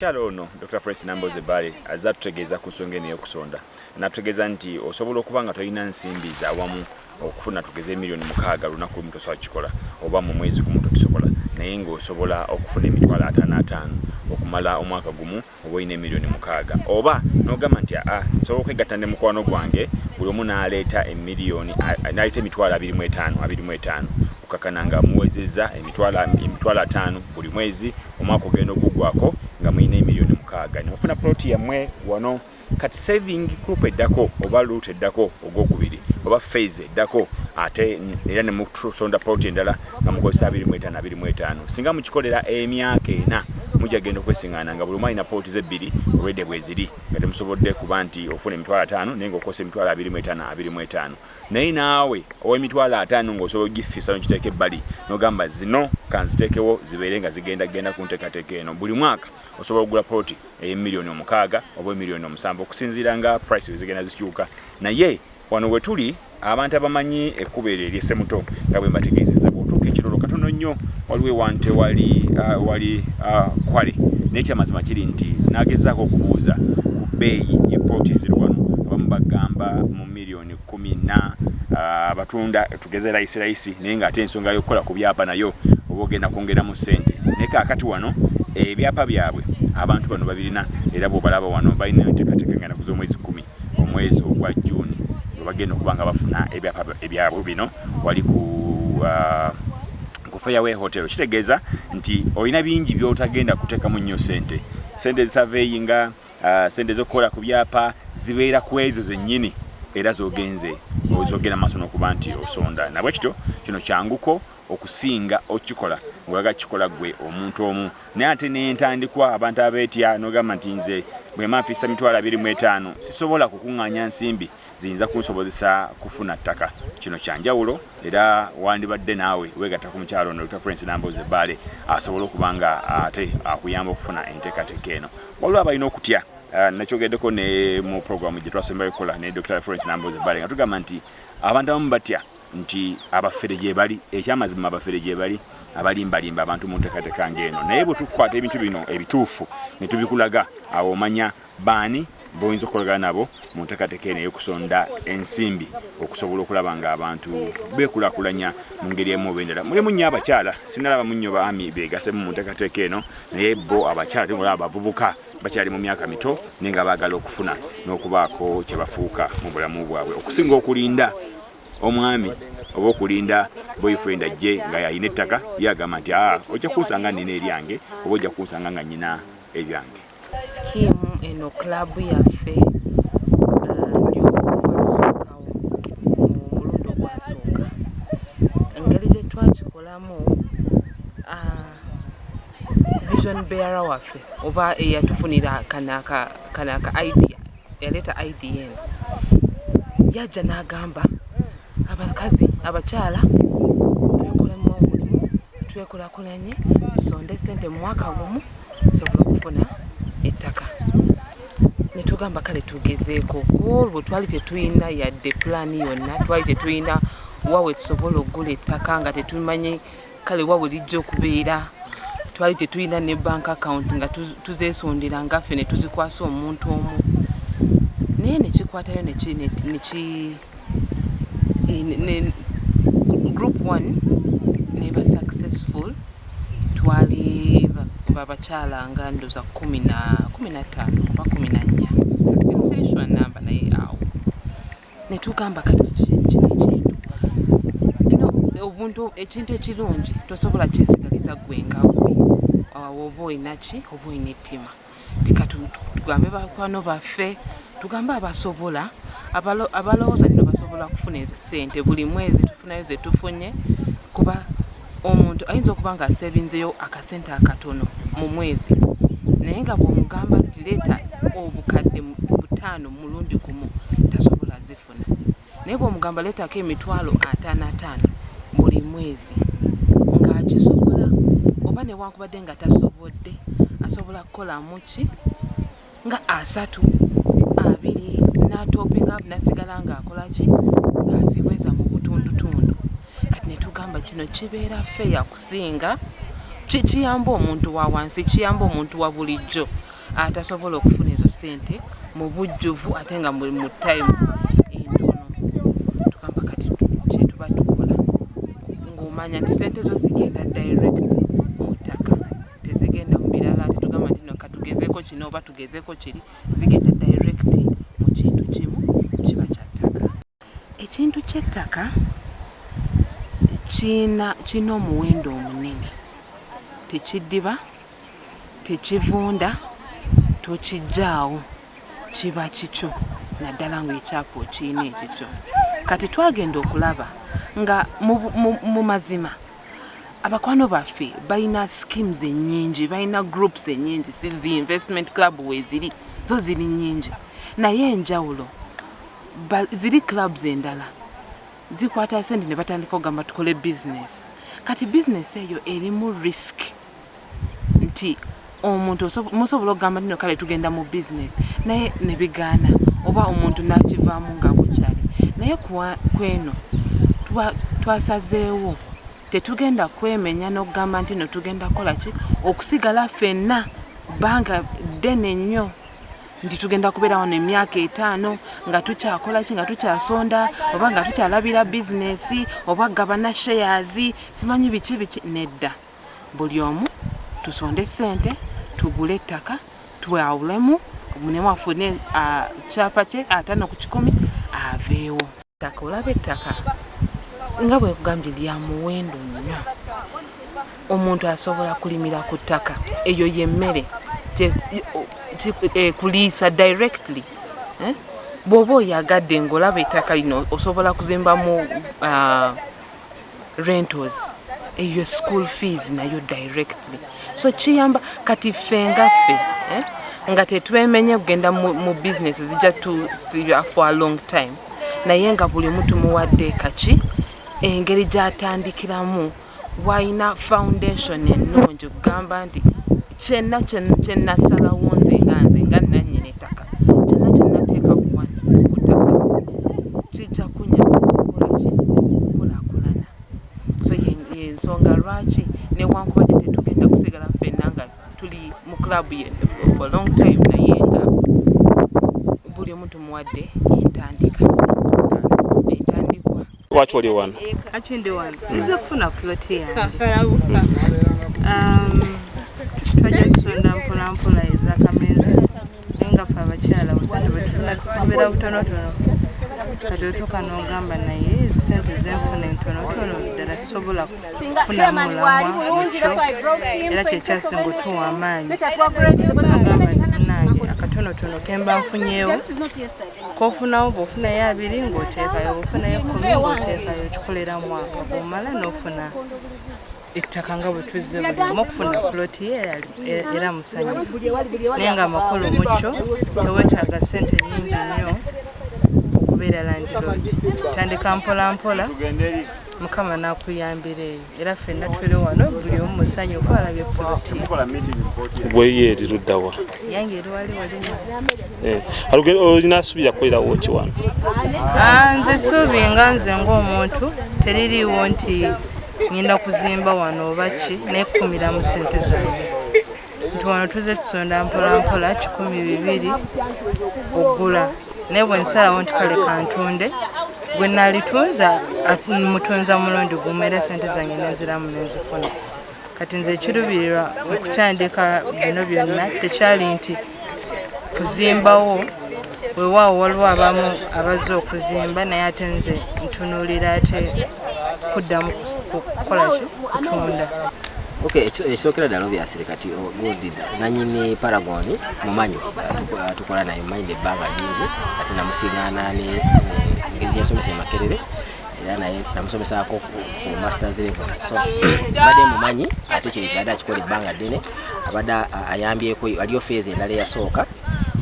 Omukyala ono Dokita Florence Nambooze Bbaale azze atutegeeza ku nsonga eno ey'okusonda n'atutegeeza nti osobola okuba nga tolina nsimbi za wamu okufuna tugeze emiliyoni mukaaga lunaku lumu tosobola kukikola oba mu mwezi gumu tokisobola naye ng'osobola okufuna emitwalo ataano ataano okumala omwaka gumu oba olina emiliyoni mukaaga oba n'ogamba nti aa nsobola okwegatta ne mukwano gwange buli omu n'aleeta emiliyoni n'aleeta emitwalo abiri mu etaano abiri mu etaano okakana nga muwezezza emitwalo ataano buli mwezi omwaka ogenda okuggwako nga mulina emiliyoni mukaaga ne mufuna poloti yammwe wano kati saving group eddako oba luut eddako ogwokubiri oba fase eddako ate era ne musonda poloti endala nga mukozesa abiri mu etaano abiri mu etaano singa mukikolera emyaka ena mujja genda okwesiŋana nga buli omu alina poloti ze bbiri olwedde bweziri nga temusobodde kuba nti ofuna emitwalo ataano naye nga okosa emitwalo abiri mu etaano abiri mu etaano Naye naawe ow'emitwalo ataano ng'osobola okugiffisa n'ogiteeka ebbali n'ogamba zino ka nziteekewo zibeere nga zigenda genda ku nteekateeka eno, buli mwaka osobola okugula poloti eye million omukaaga oba e million omusanvu okusinziira nga price bwe zigenda zikyuka naye wano we tuli abantu abamanyi ekkubo eryo erye Ssemuto nga bwe mbategeezezza bw'otuuka ekirolo katono nnyo waliwo ewantu ewali ah, wali ah, kwale naye ekyamazima kiri nti nagezaako okubuuza ku bbeeyi ye poloti eziri wano abamu bagamba mu million milioni kumi na uh, batunda tugeze layisi layisi naye nga ate ensonga yokukola ku byapa nayo oba ogenda kwongeramu sente naye kakati wano ebyapa byabwe abantu bano babirina era bwobalaba wano balina entekateka ngenda kuza omwezi kumi omwezi ogwa juni webagenda okuba nga bafuna ebyapa ebyabwe bino wali ku uh, ku fairway hotel kitegeeza nti olina bingi byotagenda kutekamu nnyo sente sente zisaveeyi nga Ah, sente zokukola ku byapa zibeera ku ezo zennyini era zogenze zogenda maaso nokuba nti osonda nabwe kityo kino kyanguko okusinga okikola ngaoyaga kikola gwe omuntu omu naye ate nentandikwa abantu abetya nogamba nti nze bwemanfisa mitwalo abiri mu etaano sisobola kukuŋŋanya nsimbi ziyinza kunsobozesa kufuna ttaka. Kino kya njawulo era wandibadde naawe weegatta ku mukyala ono Dokita Florence Nambooze Bbaale asobole okuba nga ate akuyamba okufuna enteekateeka eno. Waliwo abalina okutya eh, nakyogeddeko ne mu pulogulaamu gye twasembayo okukola ne Dokita Florence Nambooze Bbaale nga tugamba nti abantu abamu batya nti abafere gyebali ekyamazima abafere gyebali abalimbalimba abantu mu nteekateeka ng'eno naye bwe tukwata ebintu bino ebituufu ne tubikulaga awo omanya Baani boyinza okukolagana nabo mu ntekateka eno eyokusonda ensimbi okusobola okulaba nga abantu bekulakulanya mu ngeri emu oba endala? Mulimu nnyo abakyala, sinalabamu nnyo baami begasemu mu ntekateka eno naye bo abakyala tebula abavubuka bakyali mu myaka mito naye nga bagala okufuna n'okubaako kyebafuuka mu bulamu bwabwe okusinga okulinda omwami oba okulinda boyfriend ajje nga yalina ettaka yagamba nti aa ah, ojja kunsanga nina eryange oba ojja kunsanga nga nyina ebyange Skim eno club yaffe ndi omu ku baasookawo mu mulundi ogwasooka. Engeri gye twakikolamu, vision bearer waffe oba eyatufunira kano aka kano aka idea. eyaleeta id eno yajja n'agamba abakazi abakyala twekolamu omulimu twekulakulanye tusonde sente mu mwaka gumu tusobola okufuna ettaka netugamba kale tugezeeko olwo twali tetulina yadde pulaani yonna twali tetulina wawe tusobola okugula ettaka nga tetumanyi kale wa bulijjo okubeera twali tetulina ne bank account nga tuzesondera nga ffe ne tuzikwasa omuntu omu naye nekikwatayo group one neba successful twali babakyala nga ndoza kumi na kumi na ttaano oba kumi na nnya sirisirishwa namba naye awo netugamba obuntu ekintu ekirungi tosobola kyesigaliza gwe nga gwe awo oba olinaki oba olina ettima tikatugambe bakwano baffe tugambe abasobola abalowooza nino basobola kufuna ezo sente buli mwezi tufunayo zetufunye kuba Omuntu ayinza okuba nga asevinzeyo akasente akatono mu mwezi naye nga bwomugamba nti leeta obukadde butaano mulundi gumu tasobola zifuna naye bwomugamba leetako emitwalo ataano ataano buli mwezi ngaakisobola oba newankubadde nga tasobodde asobola kukolamuki nga asatu abiri n'atoopinga nasigala ng'akola ki ng'aziweza mu butundutundu kati ne tugamba kino kibeera feya kusinga kikiyamba omuntu wa wansi kiyamba omuntu wa bulijjo atasobola okufuna ezo ssente mu bujjuvu ate nga mu time tezigenda mu birala tetugamba nti no katugezeko kino oba tugezeko kiri zigenda direct mu kintu kimu kiba kya ttaka ekintu ky'ettaka kiina kirina omuwendo omunene tekiddiba tekivunda tokijjaawo kiba kikyo naddala ngaekyapa okiina ekikyo kati twagenda okulaba nga mu mazima abakwano baffe balina schemes enyingi balina groups enyingi sizi investment club weziri zo ziri nyingi naye enjawulo ziri clubs endala zikwata sente nebatandika ogamba tukole business kati business eyo erimu risk nti omuntu musobola okugamba tino kale tugenda mu business naye nebigaana oba omuntu nakivaamu nga bukyali naye kweno twasazeewo tetugenda kwemenya n'okugamba nti no tugenda kukola ki okusigala fenna bbanga ddene nnyo nti tugenda kubeera wano emyaka etaano nga tukyakola ki nga tukyasonda oba nga tukyalabira bizinesi oba gabana shares simanyi biki biki nedda buli omu tusonde sente tugule ettaka twawulemu munemu afune kyapa kye atano ku kikumi aveewo ttaka olaba ettaka nga bwekugambye lya muwendo nnyo omuntu asobola kulimira ku ttaka eyo yemmere ekuliisa eh, directly eh? bwoba oyagadde ngaolaba ettaka lino osobola kuzimbamu ah, rentals eyo school fees nayo directly so kiyamba kati ffe nga ffe eh? nga tetwemenye kugenda mu, mu business zijja tusiba for a long time naye nga buli mutu muwadde kaki engeri gyatandikiramu walina foundation ennungi okugamba nti kyena kyenasalawo nze nga nze nga nanyini ettaka kyena kyenateeka kuwano kutaka kijja kunyama okukolaki okulakulana so yensonga lwaki newankubadde tetugenda kusigala fenna nga tuli mu club ye for long time naye nga buli omu tumuwadde entandika entandikwa Lwaki oli wano? Lwaki ndi wano? Hmm. Nzize kufuna plot yange. Um, twajja tusonda mpola mpola eza kamenzi naye nga fe abakyala busente bwetufuna tubeera butonotono kati otuuka n'ogamba naye sente zenfuna entonotono ddala sobola kufunamu mulamwa era kyekyasinga otuwa amaanyi agamba nange akatonotono kemba nfunyeewo kofunawo bwofunayo abiri ngaoteekayo bwofunayo kumi ngaoteekayo kikolera mwaka bwomala nofuna ettaka nga bwetuzze buzimu okufuna puloti ye era musanyufu naye nga amakulu mukyo tewetaaga sente nyingi nnyo okubeera landiroodi tandika mpolampola mukama nakuyambira eyo era fenna tuli wano buli omu musanyufu alabye poloti gweyo eri luddawa yange eri wali walimu eh, olina asuubira kukolerawo ki wano ah, nze suubi nga nze ng'omuntu teririiwo nti ngenda kuzimba wano oba ki naye kukumiramu sente zange nti wano tuze tusonda mpolampola kikumi bibiri ogula naye bwe nsalawo nti kale kantunde gwe nalitunza mutunza mulundi gumu era sente zange nenziramu nenzifuna kati nze ekirubirirwa okukyandika bino byonna tekyali nti kuzimbawo Wewaawo waliwo abamu abazze okuzimba naye ate nze ntunuulira ate kuddamu kukola ki kutunda ekisookera ddala obyasire kati oh, gudi nanyini paragon mumanyi tukola naye mumanyi ebbanga lingi kati namusigaana eh, ngeri gyensomesa emakerere era naye namusomesaako ku masters level so badde mumanyi ate kiri kyada akikola ebbanga ddene abadde ayambyeko waliyo feezi endala eyasooka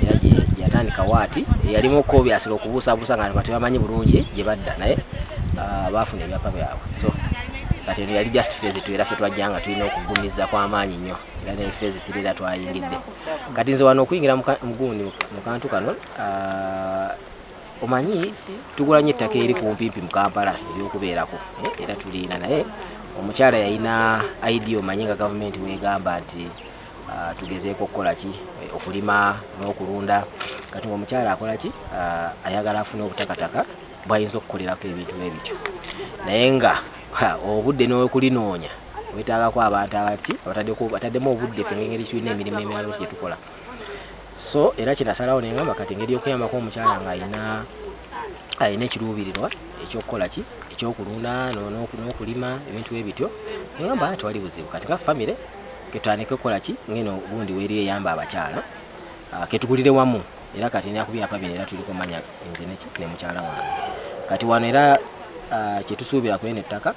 era gyeyatandika waati eyalimu okukobyasira okubuusabuusa nga nga tebamanyi bulungi gye badda naye ah, baafuna ebyapa byabwe so kati eno yali just fezi tu era fe twajja nga tulina okugumiza kwamaanyi nnyo era ne fezi siri era twayingidde kati nze wano okuyingira mugundi mu kantu kano ah, omanyi tugula nnyo ettaka eri kumpimpi mu kampala eryokubeerako eh, era tuliina naye omukyala yalina idea omanyi nga gavumenti wegamba nti Ah, tugezeeko okukola ki eh, okulima n'okulunda kati nga omukyala akola ki ah, ayagala afune obutakataka bwayinza okukolerako ebintu nebityo naye nga obudde n'okulinoonya wetaagako abantu abati bataddemu obudde fe ngengeri tulina emirimu emirala ki gyetukola so era kinasalawo nengamba kati engeri yokuyambako omukyala nga ayina alina ekiruubirirwa ekyokukola ki ekyokulunda n'okulima ebintu ebityo engamba tewali buzibu kati nga famire ketutandike okukola ki ngeno gundi weri eyamba abakyala ah, ketugulire wamu era kati nina kubyapa bino era tuliko manya nze neki ne mukyala wange kati wano era ah, kyetusuubira kweno ettaka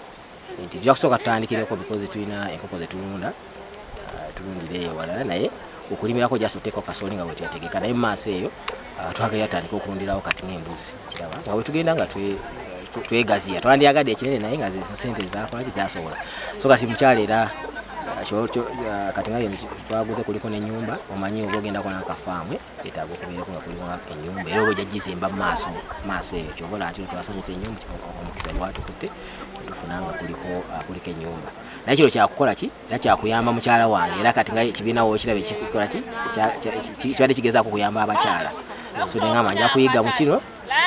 nti tuja kusooka tutandikireko bikozi tulina enkoko zetulunda ah, tulundire eyo walala naye okulimirako just oteekao kasooli nga wetetegeka naye mumaaso eyo Ah, twagala yatandika okulundirawo kati ngaembuzi kiraba nga wetugenda nga twegaziya twandyagadde ekinene naye nga sente zakwaki zasobola so kati mukyalo era ah, ah, kati nga twaguze kuliko nenyumba omanyi oba ogendako nakafaamu etaaga okubeerako nga kuliko enyumba era oba ojajizimba mumaaso maaso eyo kyobola nti twasanyusa enyumba omukisa gwatukutte tufuna nga kuliko enyumba naye kino kyakukola ki era kyakuyamba mukyala wange era kati nga ekibiina wokiraba ekikola ki kibadde kigezaako kuyamba abakyala so nengamba nja kuyiga mu kino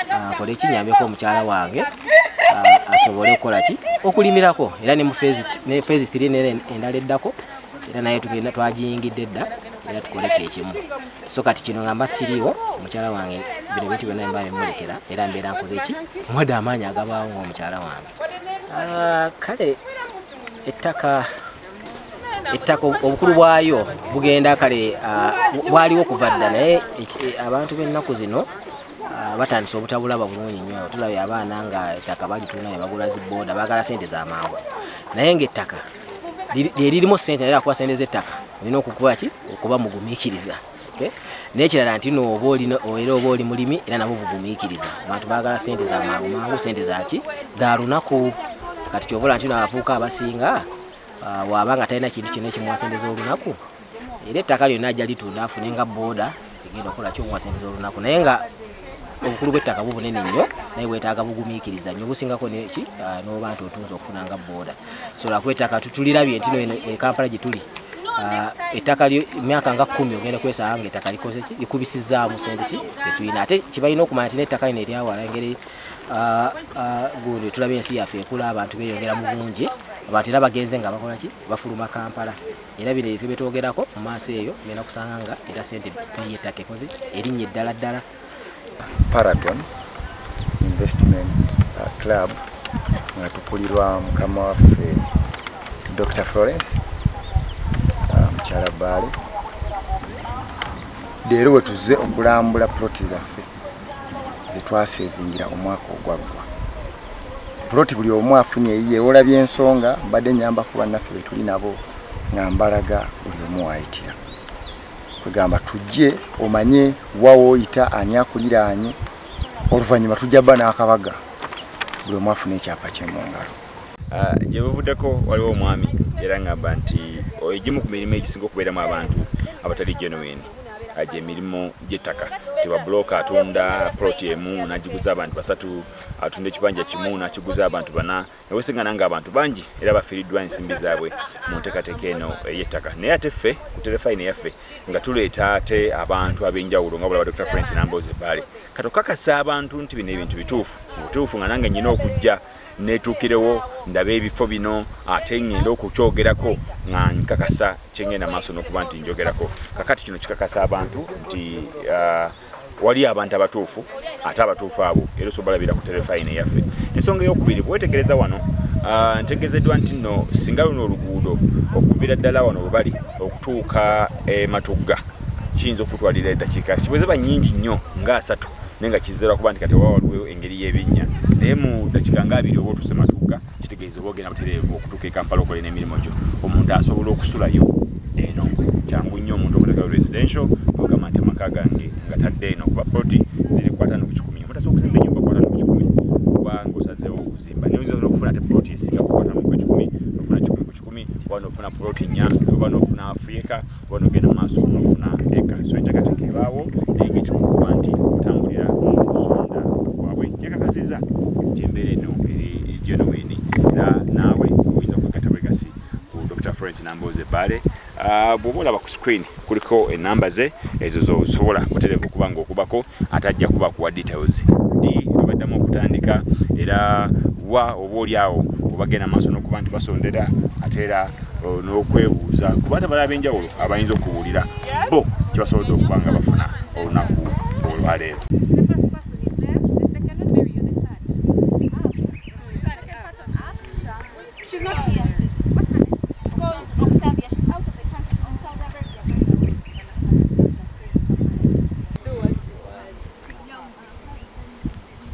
akole ah, ekinyambeko omukyala wange ah, asobole okukola ki okulimirako era ne mufezi tiri nera endala eddako era naye tugenda twagiyingidde dda era tukole kyekimu so kati kino nga mba siriiwo omukyala wange bino bintu byonna mba bimulekera era mbeera nkoze ki mwada amaanyi agabaawo ngaomukyala wange Ah, kale ettaka ettaka obukulu bwayo bugenda kale ah, bwaliwo kuva dda naye eh, abantu b'ennaku zino ah, batandise obutabulaba bulungi nnyo tulabye abaana nga ettaka balituna ne bagula zibooda baagala sente z'amangu naye ng'ettaka lye lirimu sente naye akuba sente z'ettaka olina okukuba ki okuba mugumiikiriza nekirala nti no oba oli era oba oli mulimi era nabo bugumikiriza abantu bagala sente za mangu mangu sente zaki za lunaku kati kyobola nti no abavuuka abasinga ah, waba nga talina kintu kyona ekimuwa sente z'olunaku era ettaka lyonna ajja litunda afune nga boda egenda okukola kyomuwa sente z'olunaku naye nga obukulu bw'ettaka bu bunene nnyo naye bwetaaga bugumiikiriza nnyo obusingako neki ah, n'oba nti otunza okufuna nga booda so lwakuba ettaka tulirabye nti no ekampala gye tuli ah, ettaka myaka nga kumi ogenda kwesanga nga ettaka likoze ki likubisizzaamu sente ki etulina ate kibalina okumanya nti n'ettaka lino eryawala engeri ah, gundi tulaba ensi yaffe ekula abantu beyongera mu bungi abantu era bagenze nga bakola ki bafuluma kampala era bino ebifo byetwogerako mu maaso eyo ngenda kusanga nga era sente peyi ettaka ekoze erinnya eddala ddala paragon investment uh, club nga tukulirwa mukama waffe dr florence uh, mukyala bbaale leero wetuzze okulambula ploti zaffe ze twaseevingira omwaka ogwaggwa puloti buli omu afunye eyiye wola byensonga mbadde nyamba ku bannaffe be tuli nabo nga mbalaga buli omu waayitira kwegamba tujje omanye wa wooyita ani akuliraanye oluvannyuma tujja bba n'akabaga buli omu afuna ekyapa kye mu ngalo Ah, gye buvuddeko waliwo omwami era ngamba nti oh, egimu ku mirimu egisinga okubeeramu abantu abatali genuine ah, gye mirimu gy'ettaka tebabulooka atunda ploti emu nagiguza abantu basatu atunda ekibanja kimu nakiguza abantu bana newesingana nga abantu bangi era bafiiriddwa ensimbi zaabwe mu nteekateeka eno ey'ettaka naye ate ffe ku terefayina yaffe nga tuleeta ate abantu ab'enjawulo nga bulaba dr france namboozi ebbaale katokakasa abantu nti bino ebintu bituufu mubutuufu nga nange nyina okujja netuukirewo ndabe ebifo bino ate ngende okukyogerako nga nkakasa kyengenda maaso nokuba nti njogerako kakati kino kikakasa abantu nti uh, waliyo abantu abatuufu ate abatuufu abo era osobola olabira ku terefayina eyaffe ensonga eyokubiri bwewetegereza wano uh, ntegezeddwa nti no singa luno oluguudo okuvira ddala wano webali okutuuka ematugga eh, kiyinza okutwalira eddakiika kibwezeba nyingi nnyo nga asatu naye nga kizera kuba nti kati wawaliwo ngeri y'ebinnya naye mu dakika nga abiri oba otuse matugga kitegeeza oba ogenda butereevu okutuuka ekampala okola n'emirimu gyo omuntu asobola okusulayo eno kyangu nnyo omuntu okutekayo residential ogamba nti amaka gange nga tadde eno kuba poti ziri kwatano ku kikumi omutasa okuzimba enyumba kwatano ku kikumi kubanga osazeewo okuzimba naye oyinza okufuna te poti esinga kukwatano ku kikumi nofuna kikumi ku kikumi oba nofuna poti nya oba nofuna afrika kuba nogenda mu maaso nofuna eka so enteekateeka ebaawo naye ng'ekimu kuba nti otambulira mu kusonda kwabwe kyekakasiza nti embeera eno eri genuwini era naawe oyinza kwegatta bwegasi ku dr florence namboozi ebbaale ah, bwoba olaba ku screen kuliko enamba ze ezo zosobola kutereka okuba ngaokubako ate ajja kuba kuwa details di webaddamu okutandika era wa oba oli awo obagenda maaso nokuba nti basondera ate era n'okwebuuza ku bantu abalala ab'enjawulo abayinza okubuulira bo kye basobodde okuba nga bafuna olunaku olwaleero